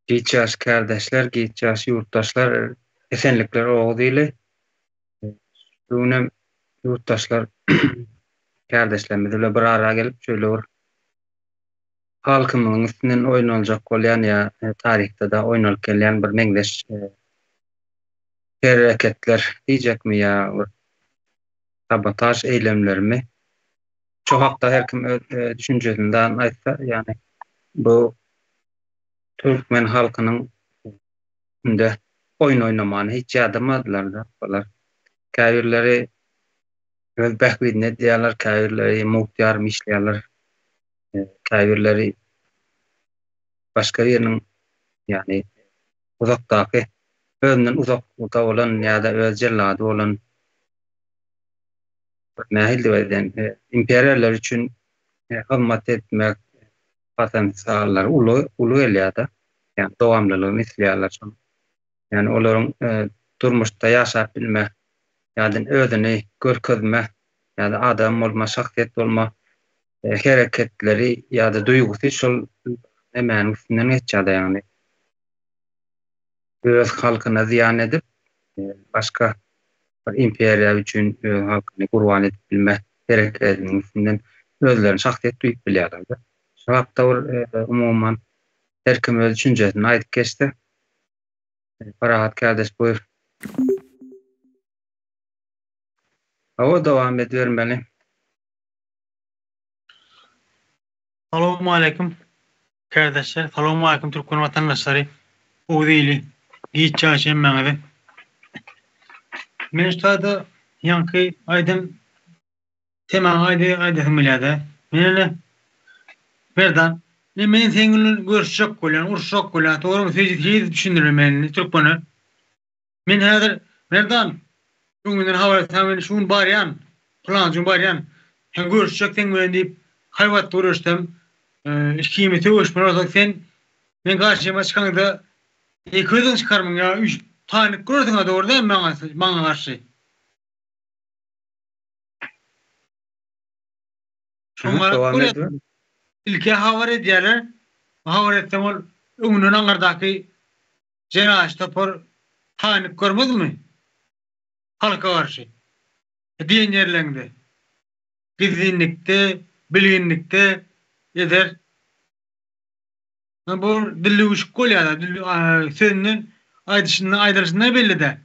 Giç ýaş kärdeşler, giç ýaş ýurtdaşlar, esenlikler Oguz ili. Şu günem ýurtdaşlar, kärdeşlerimiz bilen bir ara gelip, şöyle bir halkymyzyň üstünden oýnaljak bolýan ýa e, taryhda-da oýnalyp gelýän bir meňzeş e, hereketler diýjekmi ýa bir sabotaž eýlemlerimi Şu hakda her kim öz düşünjesinden aýtsa, ýagny bu türkmen halkynyň indi oýun oýnamany hiç ýadamadylar-da olar. Käbirleri öz bähbidine edýärler, käbirleri mugt ýarym işleýärler, käbirleri başga biriniň, ýagny uzakdaky, özünden uzaklykda bolan ýa-da öz jellady bolan nähildi we edýän imperiýalar üçin hyzmat etmek potensiallary uly, uly gelýär-de. Ýagny dowamlylygyny isleýärler şonuň. Ýagny olaryň durmuşda ýaşap bilme ýa-da özüni görkezme ýa-da adam bolma, şahsyýet bolma hereketleri ýa-da duýgusy şol nemäniň üstünden geçýär-de ýagny. Öz halkyna zyýan edip, başga bir imperiýa üçin öz halkyny gurban edip bilme hereketiniň üstünden özlerini şahsyýet duýup bilýärler-de. Şu hakda bir umuman her kim öz düşünjesini aýdyp geçse. Parahat kärdeş buýr. Hawa dowam edibermeli. Salowmaleýkim kärdeşler Salowmaleýkim türkmen watandaşlary Oguz ili giç ýaş hemmäňize Men şada ýaňky aýdym temaňy aýdy aýdasym gelýärde Men ene Merdan ine men seň bilen görüşjek bolýan uruşjak bolýan togrymy siz düşündirin men indi türkmene. Men häzir, Merdan, şu gün menden habar etseň, men şu gün barýan, pylanjy gün barýan, sen görüşjek seň bilen diýip, haýbat görüşsem, ikimiz sögüşmeli bolsak, sen meň garşyma çykaňda, ýeke özüň çykarmyň ýa üç taýlyk görersiň-ä, dogry dälmi maňa, maňa garşy? Ilki habar edýärler, habar etsem, ol öňünden aňyrdaky Jenaýatçy topar taýynlyk görmezmi halka garşy diýen ýerleňde, gizlinlikde, bilginlikde eder. Bu dilli üşük bolýar-a, sözünden aýdyşyndan aýdylyşyndan belli däl.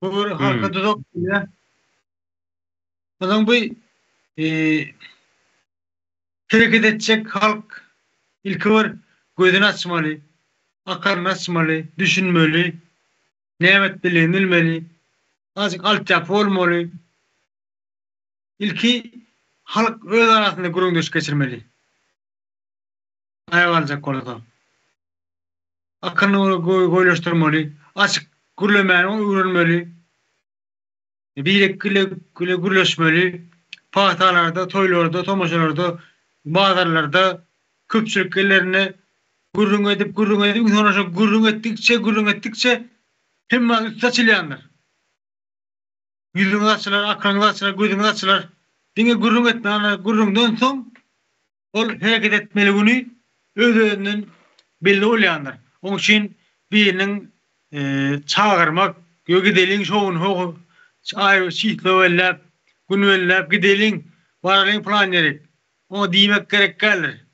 Gör halka duzak diýýä. Adam bu hereket etjek halk ilki bir gözüni açmaly, akaryny açmaly, düşünmeli, näme etmelidigini bilmeli, azajyk altyapy bolmaly. Ilki halk öz arasynda gürrüňdeşlik geçirmeli. Taýak aljak bolsa, akyryny goýlaşdyrmaly, açyk gürlemäni öwrenmeli. Birek ile gürleşmeli. Pagtalarda, toýlarda, tomaşalarda, bazarlarda, köpçülik ýerlerinde gürrüň edip, gürrüň edip, soň şo gürrüň etdikçe, gürrüň etdikçe hemmä üsti açylýandyr. Ýüzüňiz açylar, akyryňyz açylar, gözüňiz açylar. Diňe gürrüň etmeli. Gürrüňden soň Ol hereket etmeli güni öz-özünden belli bolýandyr. Oň üçin biriniň çagyrmak we gideliň şo gün ho aýry çyslo belläp, gün belläp gideliň, baralyň plan ýere oňa diýmek gerek däldir.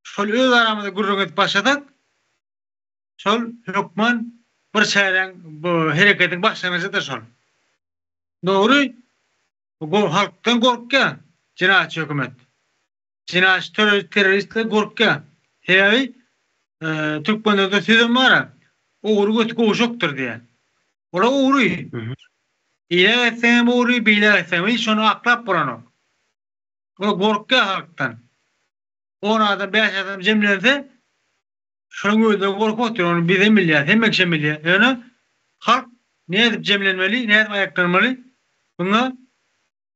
Şol öz aramyzda gürrüň edip başlasak, şol hökman bir çäräň, hereketiň başlangyjydyr şol. Dogry. Gor halkdan gorkýa jenaýatçy hökümet. Jenaýatçy töre teroristler gorkýa. Sebäbi türkmenlerde sözem bara ogry göti gowşakdyr diýä. Ola ogry. Ile etseňem ogry, bile etseňem hiç şony aklap bolanok. Ola gorkýa halkdan. On adam, bäş adam jemlense Şonuň özünden gorkup otyr, ony bizem bilýäris, hemme kişem bilýär. Ýöne halk nädip jemlenmeli, nädip aýaklanmaly, muňa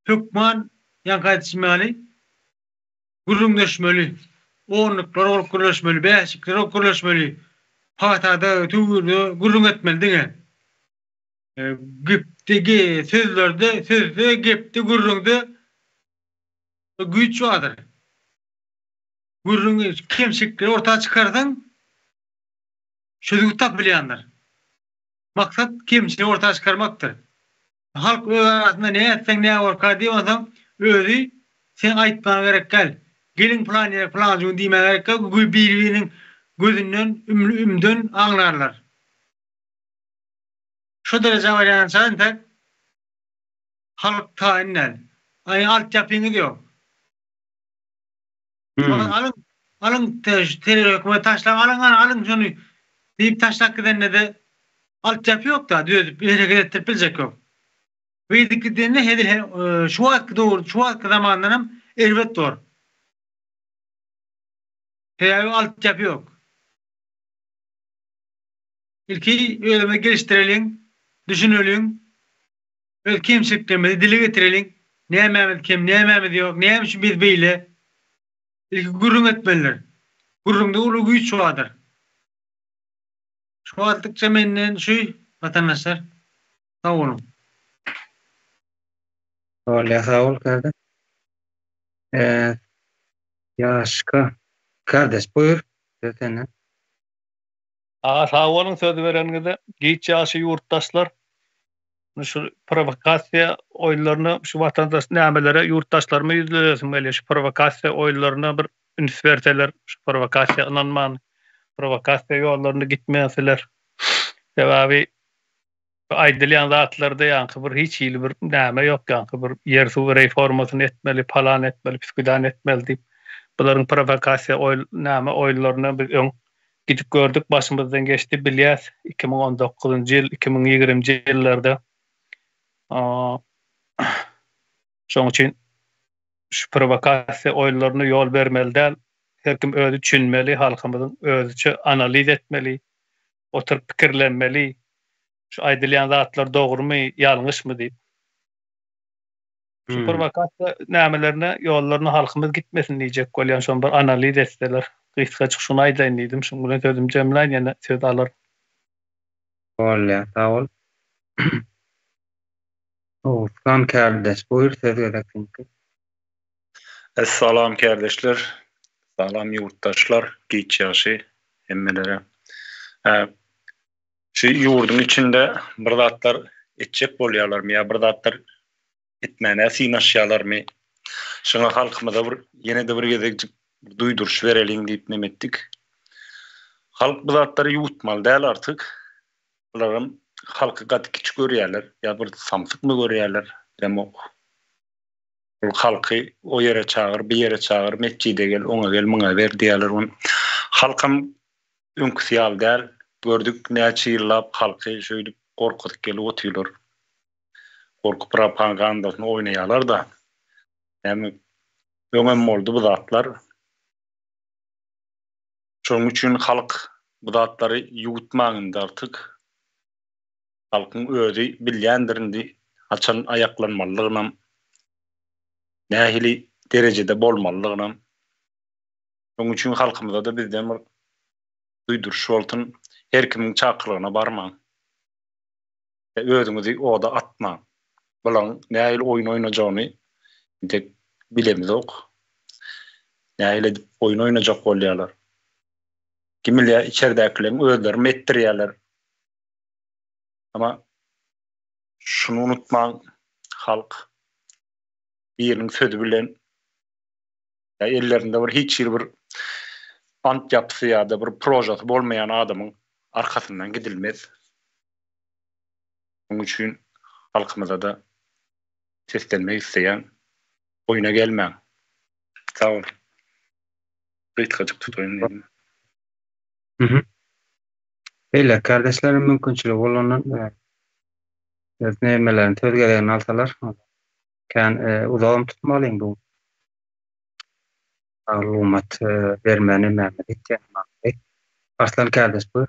hökman ýaňky aýdyşym ýaly gürrüňdeşmeli, onluklara bolup gürleşmeli, bäşliklere bolup gürleşmeli, patada, töwirde gürrüň etmeli diňe. Gepde, sözlerde, sözde, gepde, gürrüňde Bu güýç bardyr. Gürrüňi, kemçilikleri orta çykarsaň, çözgüt tapylýandyr. Maksat kemçiligi orta çykarmakdyr. Halk öz arasynda ne etseň ne borka diýip onsoň özi seň aýtmagyňa gerek däl. Geliň pylan ýere pylanjy gün diýmäge gerek däl. Bir biriniň gözünden, ümden aňlarlar. Şo derejä barýança entek Halk taýyn däl. Aý altyapyňyz ýok. Maňa alyň, alyň terror hökümeti taşlaň alyň hany alyň şony diýip taşlap gidende-de altyapy ýokda düzedip hereket etdirip biljek ýok. Beýdip gidende hezil şu wagtky döwür şu wagtky zamandan hem erbet bor. Sebäbi altyapy ýok. Ilki özüňizi gelişdireliň, düşüneliň. Öz kemçiliklerimizi dile getireliň, nämämiz kem, nämämiz ýok, näme üçin biz beýle? Ilki gürrüň etmelidir. Gürrüňde uly güýç bardyr. Şu atlykça menden şu watandaşlar. Sag boluň. Bolýar sag bol kardeş. Eee Ýaşka kardeş buyur söz senden. A sag boluň söz bereniňize. Giç ýagşy ýurtdaşlar. Indi şu prowokasiýa oýunlaryna şu watandaş nämelere ýurtdaşlaryma ýüzlenesim gelýär. Şu prowokasiýa oýunlaryna bir üns berseler. Şu prowokasiýa ynanman prowokasiýa ýollarynda gitmeseler. Sebäbi Aýdylýan zatlarda ýaňky bir hiç hili bir näme ýok ýaňky bir ýer suw reýformasyny etmeli palan etmeli pisgüdan etmeli diýip bularyň prowokasiýa oý näme oýunlaryny biz öň gidip gördük başymyzdan geçdi bilýäs iki müň on dokuzynjy ýyl iki müň ýigrimji ýyllarda şoň üçin şu prowokasiýa oýunlaryna ýol bermeli däl her kim özi düşünmeli halkymyzyň özüçe analiz etmeli oturyp pikirlenmeli, şu aýdylýan zatlar dogrumy, ýalňyşmy diýip. Şu prowokasiýa nämelerine ýollaryna halkymyz gitmesin diýjek bolýan, şony bir analiz etseler. Gysgajyk şuny aýdaýyn diýdim, şunuň bilen sözümi jemläýin, ýene söz alaryn. Bolýar, sag bol. Oguzhan kärdeş, buýr söz gezek siňki. Es salam kärdeşler. Salam ýurtdaşlar, giç ýagşy hemmelere. Hä. Şu ýurduň içinde bir zatlar etjek bolýalarmy ýa bir zatlar etmäne synaşýalarmy? Şuňa halkymyza bir ýene-de bir gezekjik duýduryş bereliň diýip nem etdik. Halk bu zatlary ýuwutmaly däl artyk. Bularam halky gaty kiçi görýäler ýa bir samsykmy görýäler, bilemok. Ol halky o ýere çagyr, bu ýere çagyr, metjide gel, oňa gel, muňa ber diýýärler. Ony halkam öňküsi ýaly däl. Gördük, näçe ýyllap halky şeýdip gorkuzyp gelip otyrlar. Gorkup propagandasyny oýnaýarlar-da. Näme, öňem boldy bu zatlar. Şonuň üçin halk bu zatlary ýuwutmaň indi artyk. Halkyň özi bilýändirindi haçan aýaklanmalydygynam, nähili derejede bolmalydygynam. Şonuň üçin halkymyza-da bizden bir duýduryş bolsun, her kimiň çakylygyna barmaň we özüňizi oda atmaň. Bularyň nähili oýun oýnajagyny entek bilemizok. Nähili edip oýun oýnajak bolýarlar. Kim bilýär, içerdäkileriň özlerim etdirýärler. Ama şunu unutmaň, halk biriniň sözi bilen ýa ellerinde bir hiç hili bir ant ýapysy ýa-da bir prožasy bolmaýan adamyň arkasyndan gidilmez. Munuň üçin halkymyza-da seslenmek isleýän, oýuna gelmäň. Sag boluň. Gysgajyk tutaýyn diýdim. Mhm. Beýleki kardeşleriň mümkinçiligi bolandan öz nebimelerini söz geregini alsalar kän uzagam tutmalyň bu maglumat bermänä näme diýip diýen Arslan kardeş buyur.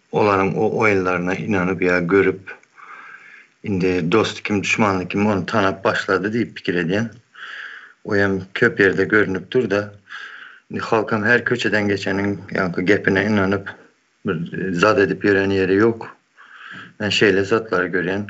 Olaryň o oýunlaryna ynanyp ýa görüp, indi dosty kim, duşmany kim, ony tanap başlady diýip pikir edýän. O hem köp ýerde görnüp dur-da, indi halkam her köçeden geçeniň ýaňky gepine ynanyp, bir zat edip ýören ýeri ýok. Men şeýle zatlary görýän.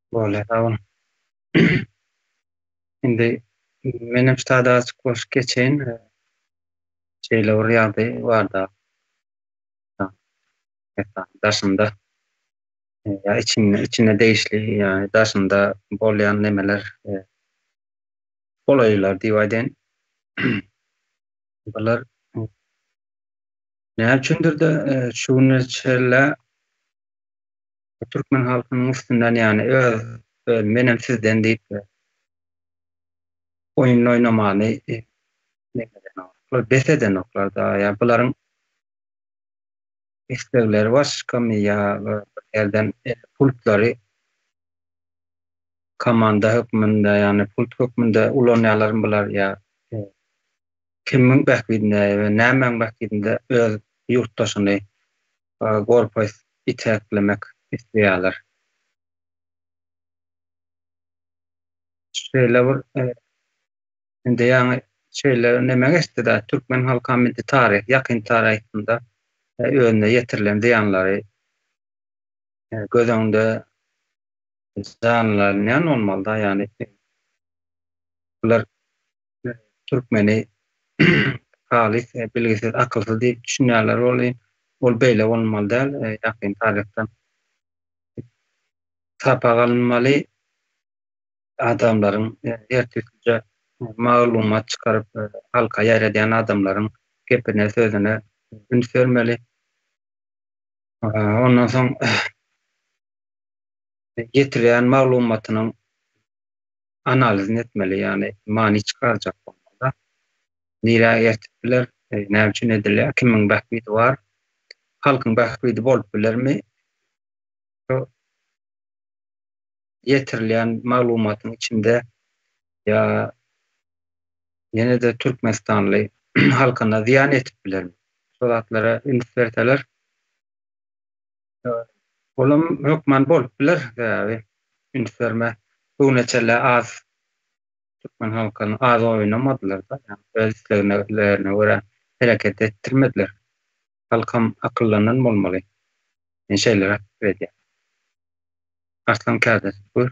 Bolýa sag boluň. Indi menem şu sada açyk bolup geçeýin. Şeýle bir ýagdaý barda. Daşynda ýa içinde içine degişli ýa-ni daşynda bolýan nemeler golaýlar diýip aýdaýyn. Bular näme üçindir-de şu güne çenli Türkmen halkynyň üstünden ýany öz öz menem sizden diýip oýunyny oýnamany bes edenoklar da ýa bularyň islegleri başgamy ýa ýerden pultlary komanda hökmünde ýani pult hökmünde ulanýalarmy bular ýa kimiň bähbidine we nämäň bähbidinde öz ýurtdaşyny gorpy iteklemek isleýärler. Şeýle bir indi ýaňy şeýle neme geçdi-de, türkmen halkam indi taryh, ýakyn taryhynda özüne ýetirilen zyýanlary göz öňünde janlanýan bolmaly-da, ýagny bular Türkmeni halys bilgisiz, akylsyz diýip düşünýärler welin, ol beýle bolmaly däl. Ýakyn taryhdan sapak alynmaly, adamlaryň ertirkije maglumat çykaryp, halka ýaýradýan adamlaryň gepine, sözüne üns bermeli. Ondan soň ýetirýän maglumatynyň analizyny etmeli, ýagny many çykarjak bolmaly-da. Nirä eltip biler, näme üçin edilýär, kimiň bähbidi bar, halkyň bähbidi bolup bilermi? Şu ýetirilýän maglumatyň içinde ýa ýene-de türkmenistanly halkyna zyýan ýetip bilermi? Şo zatlara üns berseler. Olam hökman bolup biler sebäbi üns berme bugüne çenli az türkmen halkyny az oýnamadylar-da ýagny öz isleglerine görä hereket etdirmediler. Halkam akyldanan bolmaly. Men şeýleräk pikir edýän. Arslan kärdeş buyr.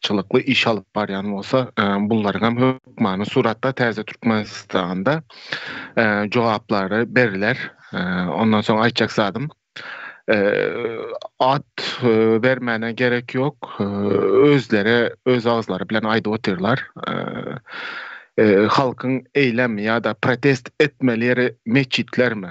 çylykly iş alyp barýan bolsa, bunlaryň hem hökmany suratda täze Türkmenistanda jogaplary beriler. Ondan soň aýtjak zadym, at bermäne gerek ýok, özleri öz agzlary bilen aýdyp otyrlar. Halkyň eýlem ýa-da protest etmeli ýeri metjitlermi?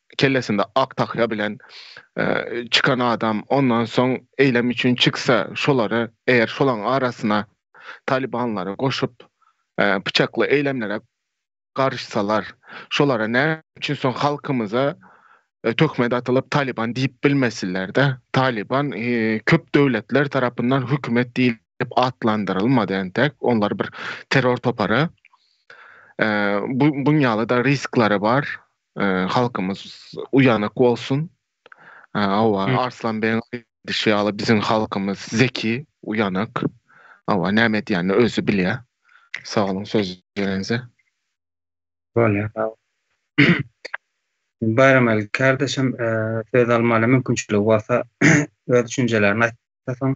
kellesinde ak tahýa bilen çykan adam ondan soň eýlem üçin çyksa, şolary eger şolaň arasyna talybanlary goşup pyçakly eýlemlere garyşsalar, şolara näme üçin soň halkymyza töhmet atylyp talyban diýip bilmesinler-de? Talyban köp döwletler tarapyndan hökümet diýlip atlandyrylmady entek, olar bir terror topary. Buň ýaly-da risklary bar. Halkymyz uýanak bolsun. Hawa, Arslan begiň aýdyşy ýaly biziň halkymyz zeki, uýanak. Hawa, näme edýänini özi bilýär. Sag boluň söz berenize. Bolýar, sag bol. Baýram Aly kardeşim söz almaly mümkinçiligi bolsa öz düşünjelerini aýtsa soň.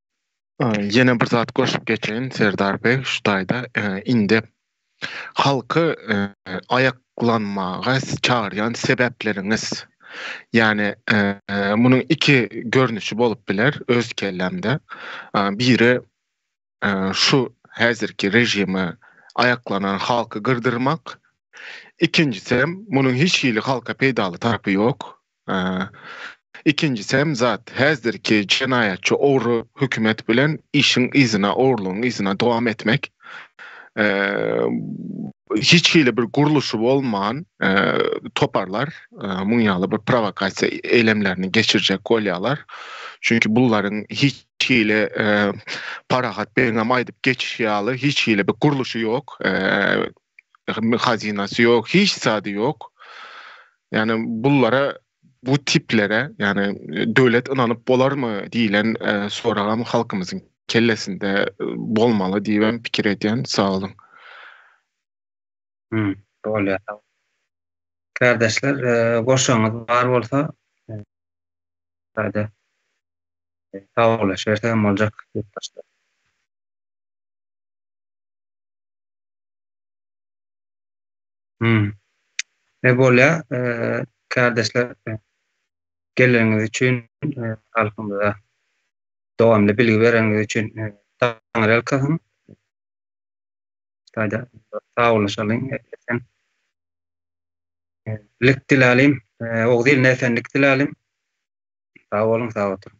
Ýene bir zat goşup geçeýin Serdar beg şu taýda indi halky aýaklanmaga çagyrýan sebäpleriňiz ýani munuň iki görnüşi bolup biler öz kellämde biri şu häzirki režime aýaklanan halky gyrdyrmak ikinjisem munuň hiç hili halka peýdaly tarapy ýok Ikinjisi hem zat, häzirki jenaýatçy ogry hökümet bilen işiň yzyna, ogrulygyň yzyna dowam etmek. Hiç hili bir gurluşy bolman toparlar muň ýaly bir prowokasiýa eýlemlerini geçirjek bolýarlar. Çünki bularyň hiç hili Parahat begiňem aýdyp geçişi ýaly hiç hili bir gurluşy ýok. hazynasy ýok, hiç zady ýok. Ýani bullara bu tiplere, ýani döwlet ynanyp bolarmy diýilen soragam halkymyzyň kellesinde bolmaly diýibem pikir edýän. Sagboluň. Hum, bolýar sag. Kärdeşler, goşagyňyz bar bolsa, ýa-da sawaglaşyberse hem boljak ýurtdaşlar. Hmm. Ne bolýa, eee, kardeşler, eee, geleniňiz üçin, eee, halkymyza dowamly bilgi bereniňiz üçin, eee, taňryýalkasyn. Taýda sagboluşalyň, esen. Eee, lik diläliň, eee, oguz iline esenlik diläliň. Sag boluň, sag oturyň.